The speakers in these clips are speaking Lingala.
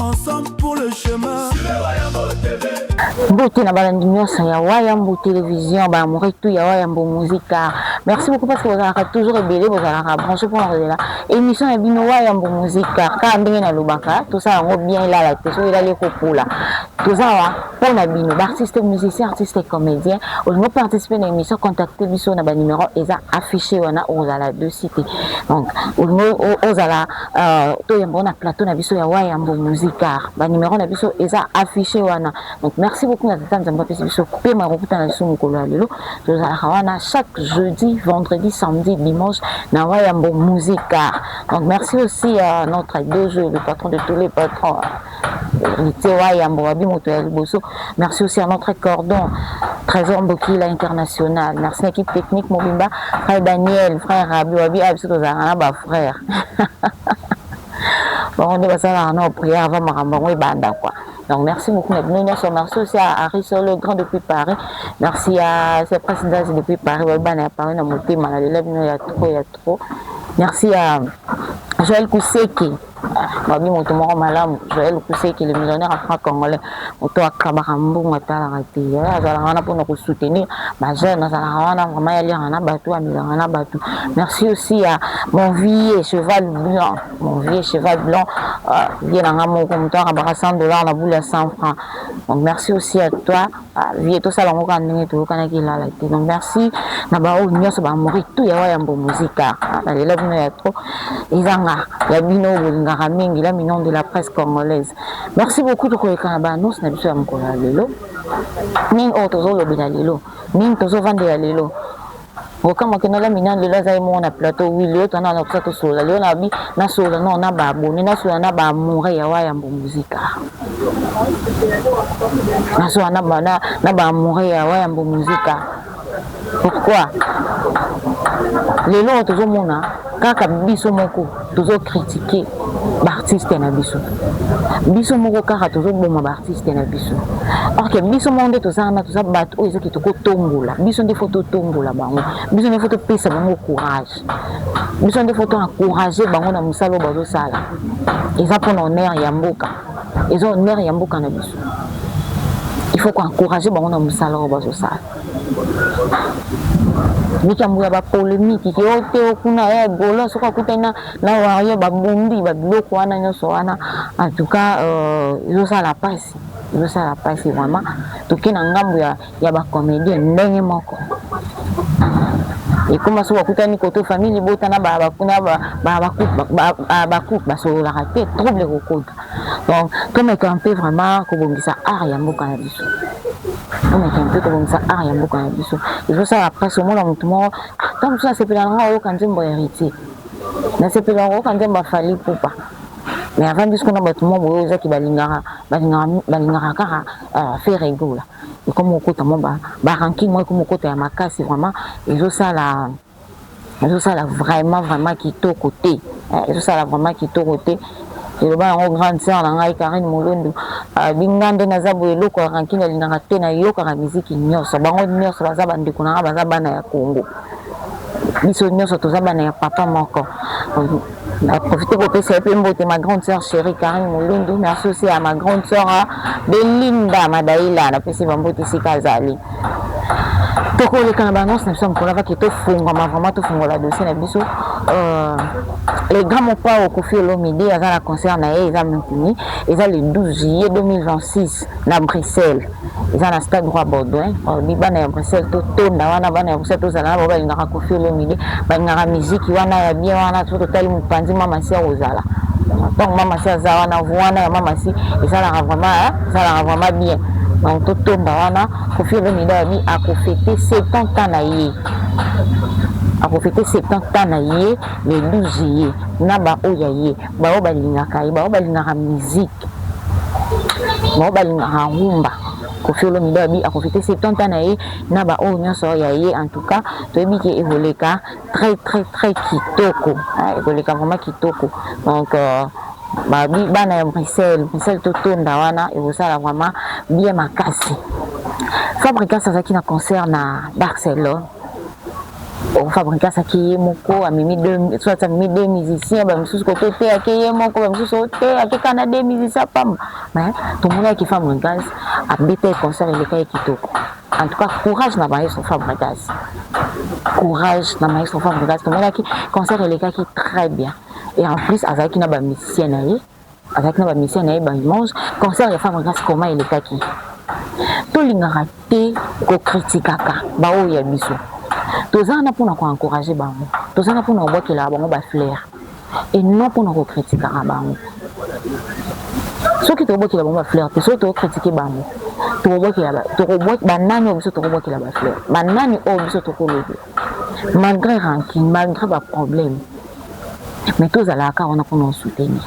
ensemble pour le chemin mbote na balandi nyonso ya wayambo télévision baamore tout ya wayambo musika merci beaucoup parce que bozalaka toujours ebele bozalaka branche mpo na kozela émission ya bino wayambo musika kaka ndenge nalobaka tosala yango bien elala te soki elali ekopola toza wa mpo na bino baartiste musicien artiste comédien olingi oparticipe na émission contacte biso na banumero eza affiché wana ozala de cité donc olingi ozala Uh, toyemba na plateau na biso ya wayambo musicar ba numero na biso eza affiche wana donc merci beaucoup na tata nzambe apesi biso pema ya kokuta na biso mokolo ya lelo tozalaka wana chaque jeudi vendredi samedi dimanche na wayambo musicar donc merci aussi à notre dojo le patron de tous les patrons Heritier Wayambo wabi moto ya liboso. Merci aussi à notre cordon Trésor Mbokila international. Merci na équipe technique mobimba frère Daniel, frère Rabi wabi abiso ah, tozalaka na ba frère. bango nde basalaka na prière avant makambo yango ebanda quoi donc merci beaucoup na bino nyonso merci aussi à Harry Solo grand depuis Paris merci à ses présidents depuis Paris babi bana ya Paris na motema na lela bino ya trop ya trop merci à Joël Kuseki Babi moto moko malamu Joel Kuseke le millionnaire à franc congolais moto akabaka mbongo atalaka te ye azalaka wana mpona kosoutenir bajeune azalaka wana vraiment yaliaka na bato amelaka na bato merci aussi ya mon vieux cheval blanc mon vieux cheval blanc euh, ye na nga moko moto akabaka 100 dollar na boule ya 100 franc donc merci aussi à toi Ah, vie tosala yango kaka ndenge toyokanaki elala te donc merci na baoyo nyonso bamori tu ya wayambo muzika ah, nalela bino ya trop ezanga ya bino oyo bolingaka mingi la minon de la presse congolaise merci beaucoup tokoleka na baannonce na biso ya mokolo ya lelo nini oyo tozolobela lelo nini tozovandela lelo Bokamwa ke na la minan lelo aza ye moko na plateau oui lelo tana na kusa tosolola lelo na bi na solola non na ba abonné na solola na ba amoureux ya wa yambo musica na solola na ba na, na ba amoureux ya wa yambo musica pourquoi lelo tozomona kaka biso moko tozo critique baartiste na biso biso moko kaka tozoboma baartiste na biso or ke biso moko nde toza wana toza bato oyo ezaki tokotombola biso nde fo totombola bango biso nde fo topesa bango courage biso nde fo toencourage bango na mosala oyo bazosala eza mpona honneur ya mboka eza honneur ya mboka na biso il faut koencourage bango na mosala oyo bazosala likambo ya bapolemiki ke o te o kuna ya golo soki akutani na, na wario babombi babiloko wana nyonso wana en tout cas euh, ezosala euh, mpasi ezosala mpasi vraiment toke na ngambo ya, ya bacomédien ndenge moko ekoma soki bakutani koto famille libota na bakupe basololaka te trouble ekokota donc tomeka un peu vraiment kobongisa art ya mboka na biso tomeka un peu kobongisa art ya mboka na biso ezosala mpasi omona motu moko ntango ah, mosusu nasepela na ngai oyoka nzembo ya héritier nasepela na koyoka nzembo ya fali pupa mais avandi sikoyo na bato mwa boye ozaki balingaka balingaka kaka euh, faire egola ekomi kokota mwa barankine mwa ekomi kokota ya makasi vraiment ezosala ezosala vraiment vraiment kitoko te eh, ezosala vraiment kitoko te eloba yango grande sœur na ngai Karine Molondu abi ah, nga nde naza boye eloko ya rankine alingaka te nayokaka miziki nyonso bango nyonso baza bandeko na ngai baza bana ya Congo biso nyonso toza bana ya papa moko Na profite kopesa yo mpe mbote ma grande sœur cherie Karine Mulundu, merci aussi à ma grande sœur hein, Belinda Madaila, napesi ba mbote esika azali. Tokoleka na ba annonce na biso ya mokolo avaki tofungwama vraiment tofungola dossier na biso euh, le grand mopao Koffi Olomide aza na concert na ye eza maintenu, eza le 12 juillet 2026 na Bruxelles. eza na stade roi baudouin olobi oh, bana ya bruxelles totonda wana bana ya bruxelles tozala na bao balingaka kofi olomide balingaka miziki wana ya bien wana to totali mopanzi mamasi ya kozala ntango mamasi aza wana vu wana ya mamasi ezalaka vraiment ezalaka vraiment bien donc totonda wana kofi olomide alobi akofete 70 ans na ye akofete 70 ans na ye le 12 juillet na baoyo ya ye baoyo balingaka ye baoyo balingaka miziki bango balingaka rumba kofi olomide abi akofi te 70 ans na ye na baoyo oh, nyonso ya ye en tout cas toyebi ke ekoleka très très très kitoko ekoleka vraiment kitoko donc euh, babi bana ya bruxelles bruxelles totonda wana ekosala vraiment bien makasi fabricas azalaki na concert na barcelone o fabrique asaki ye moko amemi soit amemi deux musiciens bamisusu kote oteyaki ye moko bamisusu oteyaki kaka na deux musiciens pamba mais tomonaki fabrigase abeta ye concert eleka ye kitoko en tout cas courage na maestro fabrigase courage na maestro fabrigase tomonaki concert elekaki très bien et en plus azalaki na bamusicien na ye azalaki na ba mission na ye ba image concert ya femme grace koma elekaki tolingaka te kokritikaka baoyo ya biso toza wana mpona koencourage bango toza na mpona kobwakelaka bango bafleur et non mpona kokritikaka bango soki tokobwakela bango bafleur te soki tokokritike bango banani oyo biso tokobwakela bafleur banani oyo biso tokolobela malgre rancune malgre ba problème mais tozalaka kaka wana mpona osoutenir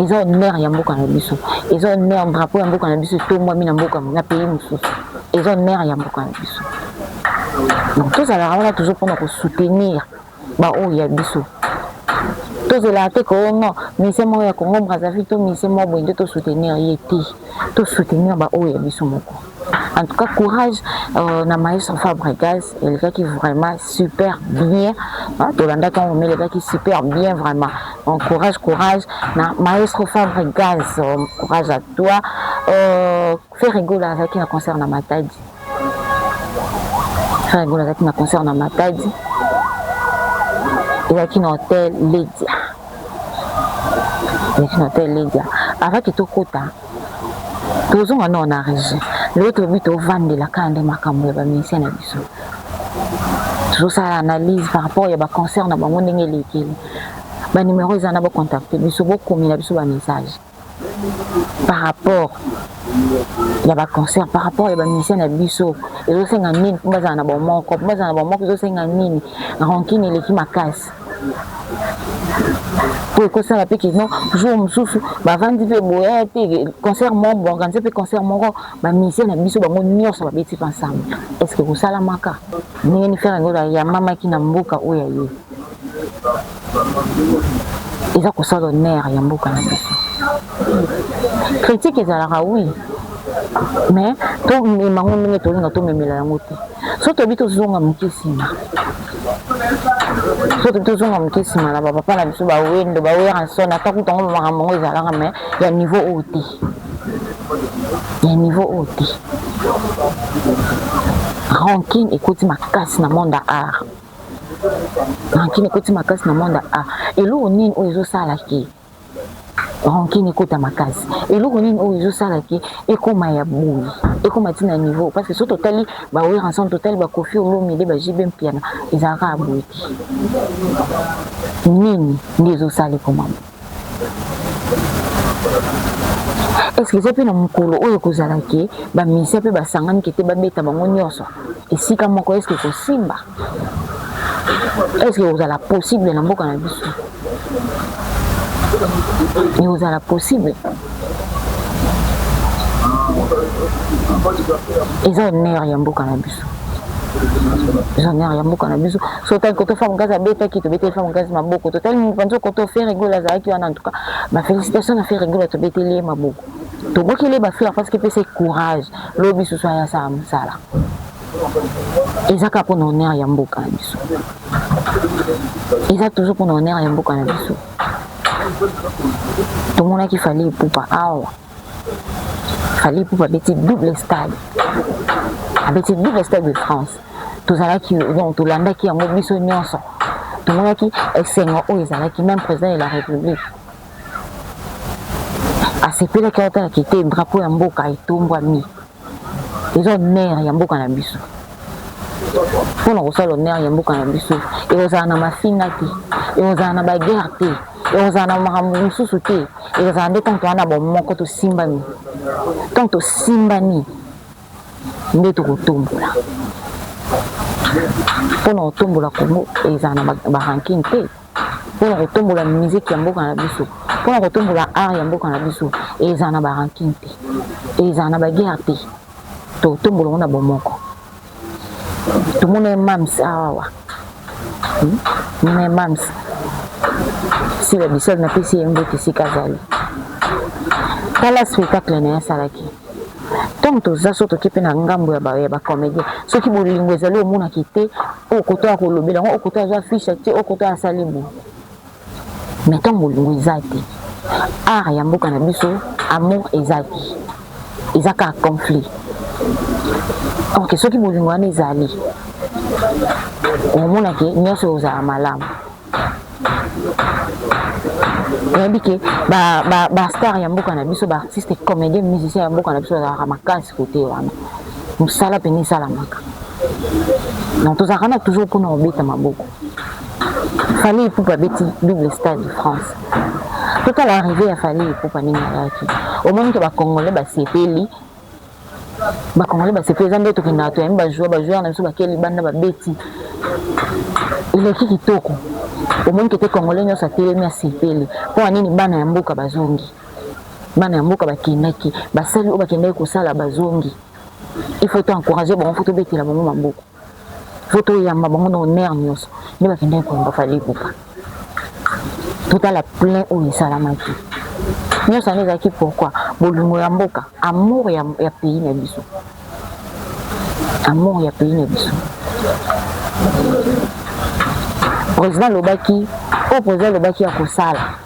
eza honneur ya mboka na biso eza honneur drapeau ya mboka na biso etombwami na mboka na pays mosusu eza honneur ya mboka na biso donc tozalaka wana toujours mpona kosoutenir ba oyo ya biso tozelaka te koyo non misie moko ya congo brazzaville to misie moko boye nde tosoutenir ye te tosoutenir baoyo ya biso moko en tout cas courage euh, na maestro fabregas elekaki vraiment super bien tolandaki yango me elekaki super bien vraiment donc courage courage na maestro fabregas euh, courage à toi euh, Ferre Gola azalaki na concert na Matadi. Ferre Gola azalaki na concert na Matadi. Ezalaki na hotel Ledia. Ezalaki na hotel Ledia. Avant que tokota, tozonga nao na régie. Lelo tolobi tovandela kaka nde makambo ya bamisie na biso. Tozosala analyse par rapport ya baconcert na bango ndenge elekeli. Banimero eza na bocontacte biso, bokomela biso bamessage. par rapport ya ba concert par rapport ya ba musicien na biso ezosenga nini mpo bazala na bomoko mpo bazala na bomoko ezosenga nini rankine eleki makasi mpo ekosala mpe kino jour mosusu bavandi mpe boya te concert moko boorganize mpe concert moko bamusicien na biso bango nyonso babeti mpe ensemble est ce que ekosalamaka ndenge nifere yango yamamaki na mboka oyo ya ye eza kosala honneur ya mboka na biso critique ezalaka oui mais tomema yango ndenge tolinga tomemela yango te so toyebi tozonga moke nsima so toyebi tozonga moke nsima na bapapa na biso bawendo baweranson ata kuta yango makambo yango ezalaka mais ya niveau oyo te ya niveau oyo te rankine ekoti makasi na monde ya art rancune ekoti makasi na monde a eloko nini oyo ezosala ke rancune ekota makasi eloko nini oyo ezosala ke ekoma ya boye ekoma ti na niveau parce que soki totali bawera ensemble totali bakofi olomide bajibe mpiana ezalaka ya boye te nini nde ezosala ekoma est ce que eza mpe na mokolo oyo ekozala ke bamisia mpe basangani ke te babeta bango nyonso esika moko est ce que ekosimba est ce que ekozala possible na mboka na biso ekozala possible eza honneur ya mboka na biso eza nere ya mboka na biso so otali koto femme gaz abetaki tobeteli femme gaz maboko totali mopanzi koto fe regula azalaki wana antuka bafélicitation na fe regula tobeteli ye maboko tobokeli ye bafleur parce que epesa courage lobi susu aya asala mosala eza kaka mpona honneur ya mboka na biso eza toujours mpona honneur ya mboka na biso tomonaki fali epupa awa fali ipupa abeti double stade abeti double stade de france tozalaki donc tolandaki yango biso nyonso tomonaki esengo oyo ezalaki même président de la république asepelaki aotala kite drapeau ya mboka etombwami oza honneur ya mboka na biso mpo na kosala honneur ya mboka na biso ekozala na mafinga te ekozala na baguerre te ekozala na makambo mosusu te ekozala nde ntango toza na bomoko tosimbani ntango tosimbani nde tokotombola mpo na kotombola kongo ezala na baranking te pona kotombola musique ya mboka na biso pona kotombola art ya mboka na biso ezala na barankin te ezala na baguerre te totombola ngo na bomoko tomona mams awawa hmm? me mams sila bisol napesi ye mbote esika azali tala spectacle na ye asalaki ntango toza so toke mpe na ngambo ya ba comédien soki bolingo ezali omonaki te oyo koto ya kolobela yango oyo koto azwa fiche te oyo koto asali bo mais ntango bolingo eza te art ya mboka na biso amour eza te eza kaka conflit ok soki bolingo wana ezali omonake nyonso ozala malamu oyebi ke bastar ya mboka na biso baartiste comédien musicien ya mboka na biso bazalaka makasi kote wana mosala mpena esalamaka donc tozalaka na toujours mpona kobeta maboko fali ipupa abeti double stade de france totala arrive ya fali ipupa ndenge ayaki omonike bacongolais basepeli ba congolais basepeli eza nde tokendaka toyambi bajoueur bajoueur na biso bakei libanda babeti eleki kitoko omoni kete congolais nyonso atelemi asepeli mpo na nini bana ya mboka bazongi bana ya mboka bakendaki basali oyo bakendaki kosala bazongi il faut to encourage bango fo tobetela bango maboko faut toyamba bango na honneur nyonso nde bakendaki koyamba fali ipupa totala plein oyo esalamaki nyonso yango ezalaki pourkui bolingo ya mboka amour ya, ya pays na biso amour ya pays na biso président alobaki oyo président alobaki ya kosala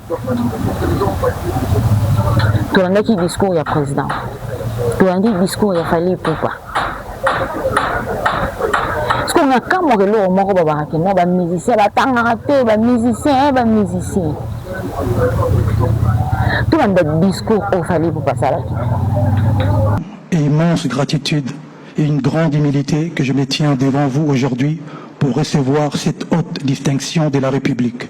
Tolandaki discours ya president, tolandi discours ya Fally Ipupa. Sikoyo na kamwa eloko moko babaka ke non ba musicien batangaka te ba musicien eh, ba musicien tolanda discours oyo Fally Ipupa asalaki. Immense gratitude et une grande humilité que je me tiens devant vous aujourd'hui pour recevoir cette haute distinction de la République.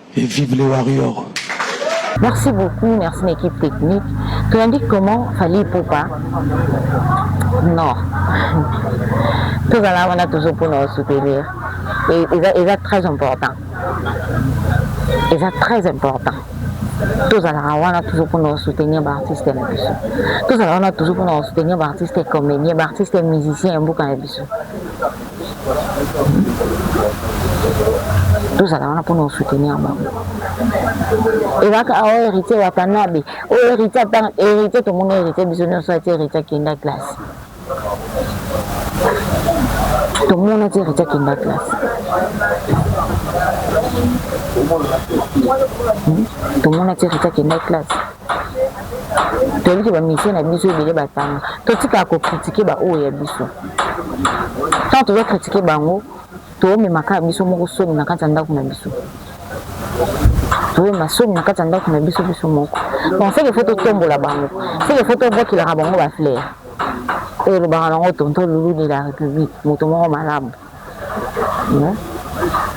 Et vive les warriors. Merci beaucoup, merci na équipe technique. Toyandi comment Fally Ipupa Non. tozala wana toujours mpo na soutenir eza très important eza très important tozalaka wana toujours mpo na soutenir baartiste na biso tozalaka wana toujours mpo na soutenir baartiste comédien baartiste musicien ya mboka na biso tozala wana mpona kosoutenir bango ezalaka awa héritier watanabe oyo héritier ata héritier tomoni héritier biso nyonso ati héritier akenda classe tomoni ati héritier akenda classe tomoni ati héritier akenda classe toyebi ke bamusicien na biso ebele batanga totikaka kokritike baoyo ya biso ntango toza kritike bango toomemaka biso moko soni na kati ya ndako na biso toyema soni na kati ya ndako na biso biso moko donc seke fo totombola bango seke fo tobakelaka bango baflere oyo elobaka nango tonto lulu de la république moto moko malamu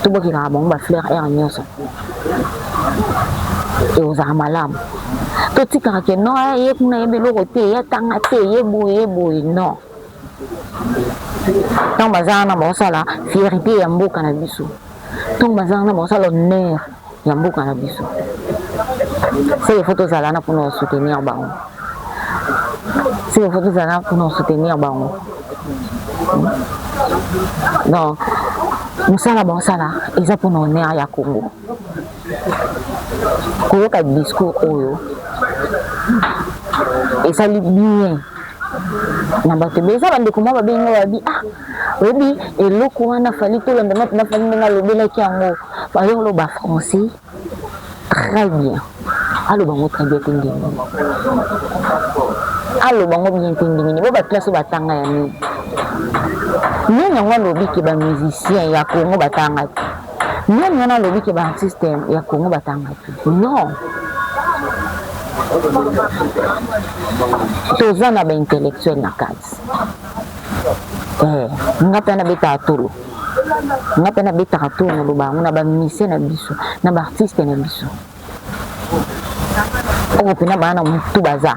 to bokekaka bango ba fleur aire nyonso ekozala malamu totikaka ke non eh, ye kuna yebi eloko te ye atanga te ye boye ye boye non ntango baza wana baosala fierité ya mboka na biso ntango baza wana baosala honneur ya mboka na biso seke fo tozala na mpona kosoutenir bango seke fo tozala na mpona kosoutenir bango donc mosala baosala eza mpona honneur ya congo koyoka discours oyo esali bien na bato ebele eza bandeko mwa babengi nga babi ah oyebi eloko wana fali tolanda na mpena fali ndenge alobelaki yango fali oloba français très bien aloba ngo très bien te ndenge aloba ngo bien te ndenge nini bo bakelasi oyo batanga ya nini nini yango alobi ke bamusicien ya congo batanga te Nani wana alobi ke ba artiste ya Congo batanga te? Non, toza na ba intellectuel na kati eh, nga mpe nabetaka tolo nga mpe nabetaka tolo naloba yango na ba musicien na biso na ba artiste na biso oyo mpena bana na motu baza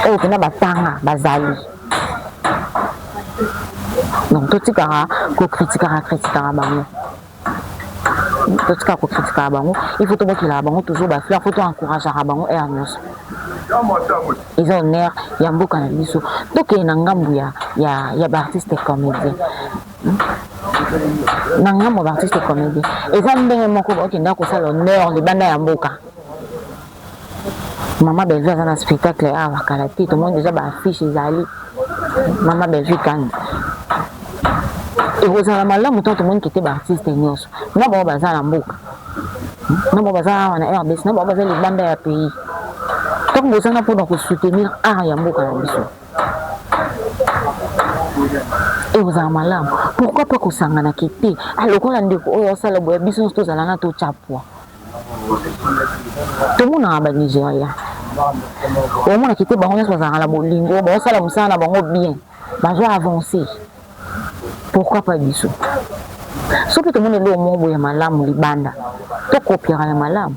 oyo mpena batanga bazali donc totikaka kokritikaka kritikaka bango totika kokritikaka bango il faut tobokelaka bango toujours bafleur mpo toencourageaka bango aire nyonso eza honneur ya mboka na biso tokende na ngambo ya, ya, ya baartiste comédien na ngambo ya baartiste comédie eza ndenge moko okenda kosala honneur libanda ya mboka mama bellevue aza na spectacle awa kala te tomoni deja baaffiche ezali mama bellevue kani ekozala malamu ntango tomoni kete baartiste nyonso na bango baza na mboka na bango baza awa na rdc na bango baza libanda ya pays ntango bozanga mpona kosoutenir art ya mboka na biso ekozala malamu pourquoi pas kosangana ke te ah, lokola ndeko oyo asala boya biso nyonso tozala na totya pwa tomonaka banigeria omonaki te bango nyonso bazalaka na bolingo baosala mosala na bango bien bazo avance pourquoi pas biso soki tomoni eloko moko boye ya malamu libanda tokopiaka ya malamu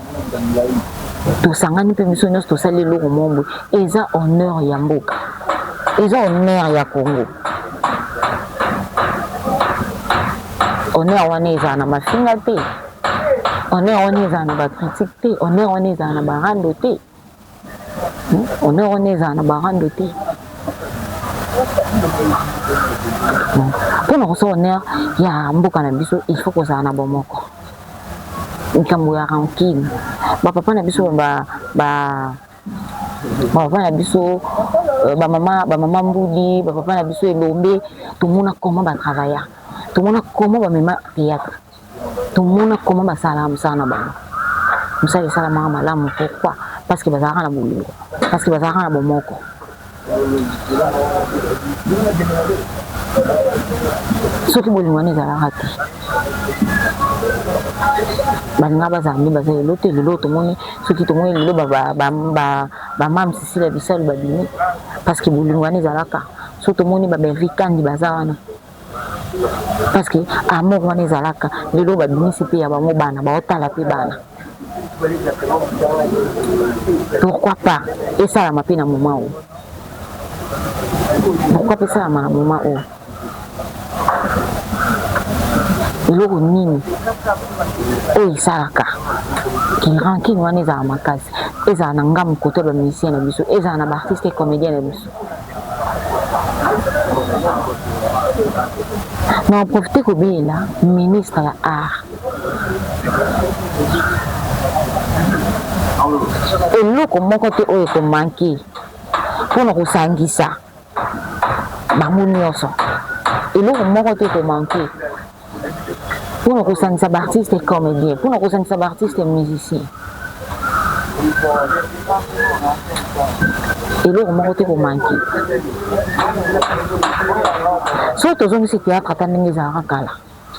tosangani mpe biso nyonso tosali eloko mombo eza honneur ya mboka eza honneur ya congo honneur wana ezala na mafinga te honneur wana ezala na bakritike te honneur wana ezala na barando te honneur wana ezala na barando te mpo na kosala honneur ya mboka na biso il faut kozala na bomoko likambo ya rancune bapapa na biso ba, ba bapapa na biso euh, bamama bamama mbudi bapapa na biso elombe tomona comment batravailla tomona comment bamema théâtre tomona comment basalaka mosala na bango mosala esalamaka malamu pourquoi parce que bazalaka na bolingo parce que bazalaka na bomoko soki bolingo wana ezalaka te baninga bazala nde baza lelo te lelo tomoni soki tomoni lelo bamame sisila bisalu babimi parce que bolingo wana ezalaka so tomoni babervi kandi baza wana parce que amour wana ezalaka lelo babimisi mpe ya bango bana baotala mpe bana pourquoi pas esalama mpe na moment oyo pourquoi mpe esalama na moment oyo eloko nini oyo esalaka kirankine wana ezala makasi ezala na ngambo kote ya bamusicien na biso ezala na baartiste comédien na biso Na profite kobelela ministre ya art eloko moko te oyo ekomanke mpo na kosangisa bango nyonso eloko moko te ekomanke mpo na kosangisa baartiste comédien mpo na kosangisa baartiste musicien eloko moko te komanke soki tozongisi théâtre ata ndenge ezalaka kala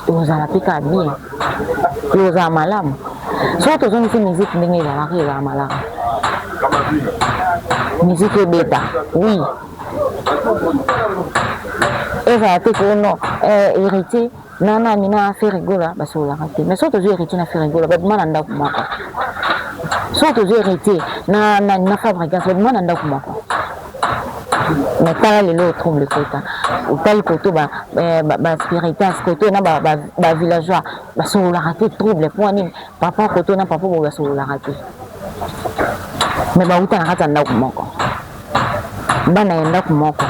ekozala mpe kaka bien ekozala malamu soki tozongisi miziki ndenge ezalaka ezala malamu miziki ebeta oui ezala te ke non eh, héritier na nani na ferigola basololaka te mais soki tozwi héritier na ferigola babima na ndako moko soki tozwi héritier na nani na fabrigance babima na ndako moko mais tala lelo otrouble ekota otali koto baspiritas eh, koto na bavillageois basololaka te trouble mpo wa nini papa koto na papa boye basololaka te mais bauta na kati ya ndako moko bana ya ndako moko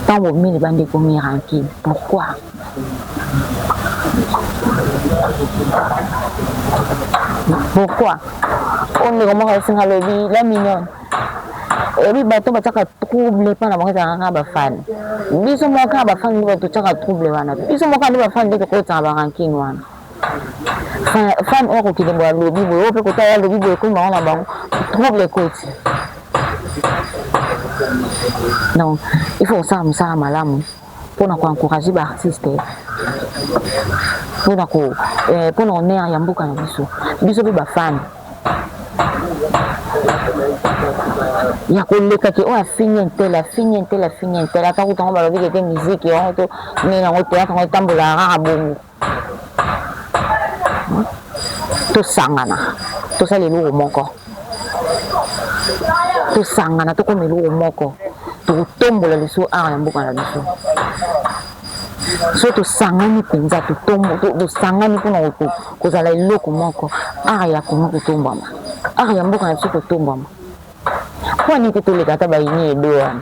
ntango bomeli bandeko mirankile pourkui pourkui oyo ndeko moko asinga alobi la mignone ebi bato batiaka trouble mpo na bango ezalaka kaka bafani biso moko kaka bafani nde bato tiaka trouble wana biso moko nde bafani nde tokotisaka barankine wana fan oyo akokende mbo alobi boye oyo mpe kota ya alobi boye ekomi bango na bango trouble ekoti donc il faut kosala mosala malamu mpona koencourage baartiste mpona ko mpona eh, honneur ya mboka na biso biso mpe bafani ya koleka ke oyo afingi ntele afingi ntele afingi ntele ata kutango balobi kete miziki yango to nini yango teyaka yango etambolaka kaka bongo tosangana tosala eloko moko tosangana tokoma eloko moko tokotombola lisusu awa na mboka na biso so tosangani mpenza tosangani mpona kozala eloko moko art ya kongo kotombwama art ya mboka na biso kotombwama mpo nini te toleka ata baini edo wana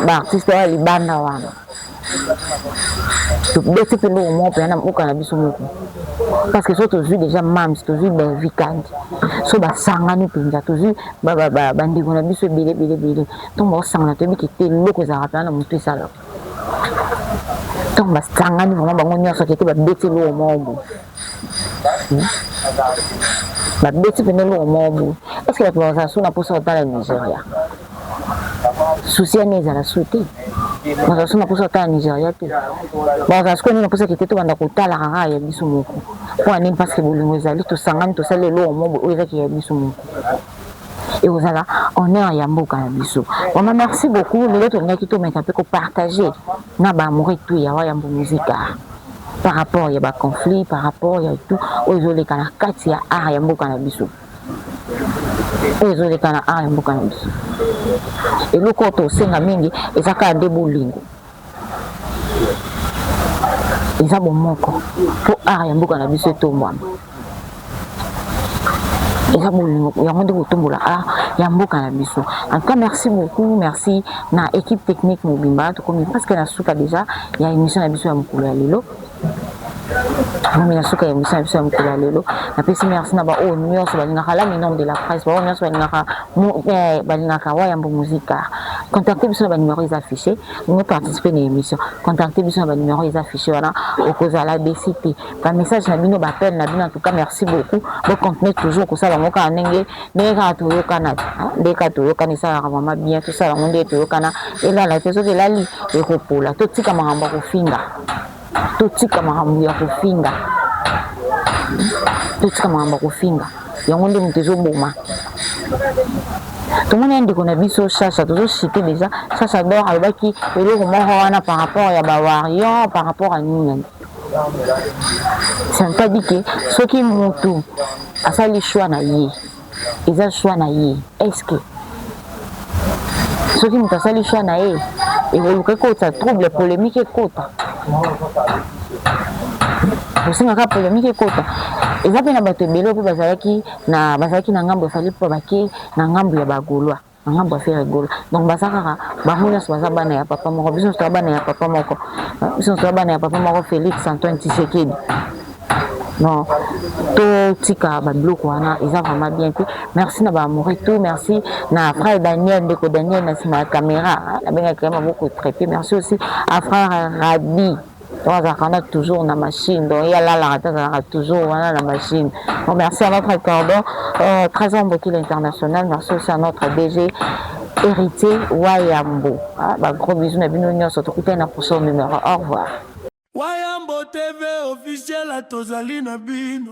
baartiste wana libanda wana tobeti mpe eloko moko mpenza na mboka na biso moko parce que so tozwi déjà mams tozwi belvi kandi so basangani mpenza tozwi bandeko na biso ebele ebele ebele ntongo baosangana toyebi kete eloko ezalaka mpenza na motu esalaka ntango basangani vraimen bango nyonso keke babeti eloko moko boye hmm? babeti mpena eloko moko boye eske bato bazala so na mposa kotala nigeria susi yani ezala so te bazala so na mposa kotala nigeria te bazala sikoyo nini mposa kete tobanda kotalaka kaka ya biso moko mpo ya nini parceke bolingo ezali tosangani tosali eloko moko boye oyo ezaki ya biso moko ekozala honneur ya mboka na biso vraiment merci beaucoup lelo tolingaki tomeka mpe kopartage na baamoureux tout ya wayambo musika par rapport ya baconflit par rapport ya tout oyo ezoleka na kati ya art ya mboka na biso oyo ezoleka na art ya mboka na biso eloko oyo tosenga mingi eza kaka nde bolingo eza bomoko mpo art ya mboka na biso etombwana eza bolingo yango nde kotombola art ya mboka na biso en tout cas merci beaucoup merci na équipe technique mobimba tokomi presque na suka déjà ya émission na biso ya mokolo ya lelo Mami na suka ya emission na biso ya mokolo ya lelo napesi merci na baoyo nyonso balingaka la minome de la presse baoyo nyonso balingaka eh, balingaka wayambo musika contacte biso na banumero eza affiche olingi participe na émission contacte biso na banumero eza affiche wana okozala desi te bamessage na bino bapele na bino antuka merci beaucoup bocontinue toujours kosala yango kaka ndenge ndenge kaka toyokana ah, ndenge kaka toyokana esalaka mama bien tosala yango ndenge toyokana elala te soki elali ekopola totika makambo ya kofinga totika makambo ya kofinga totika makambo ya kofinga yango nde moto ezoboma tomoni ya ndeko na biso sasa tozosite deja sasa dor alobaki eloko moko wana par rapport ya bawarior par rapport ya nini c'est-à-dire ke soki motu asali choix na ye eza choix na ye eske soki moto asali choix na ye ekoluka ekotisa trouble polemique ekota osengaka polemique ekota eza mpe na bato ebele mpe bazalaki na bazalaki na ngambo ya fali mpo bake na ngambo ya bagolois na ngambo ya Ferre Gola. Donc baza kaka bango nyonso baza bana ya papa moko, biso nyonso toza bana ya papa moko, biso nyonso toza bana ya papa moko Felix Antoine Tshisekedi. Non, totika babiloko wana eza vraiment bien te. Merci na ba amoureux tout, merci na frère Daniel, ndeko Daniel na nsima ya camera, nabengaki ye maboko traite. Merci aussi à frère Rabi. Donc azalaka na toujours na machine donc ye alalaka te azalaka toujours wana na machine donc merci à notre cordon euh, trésor mbokila international merci aussi à notre dg héritier wayambo ah, ba gros bisous na bino nyonso tokutani na prochain numéro au revoir wayambo tv officiel tozali na bino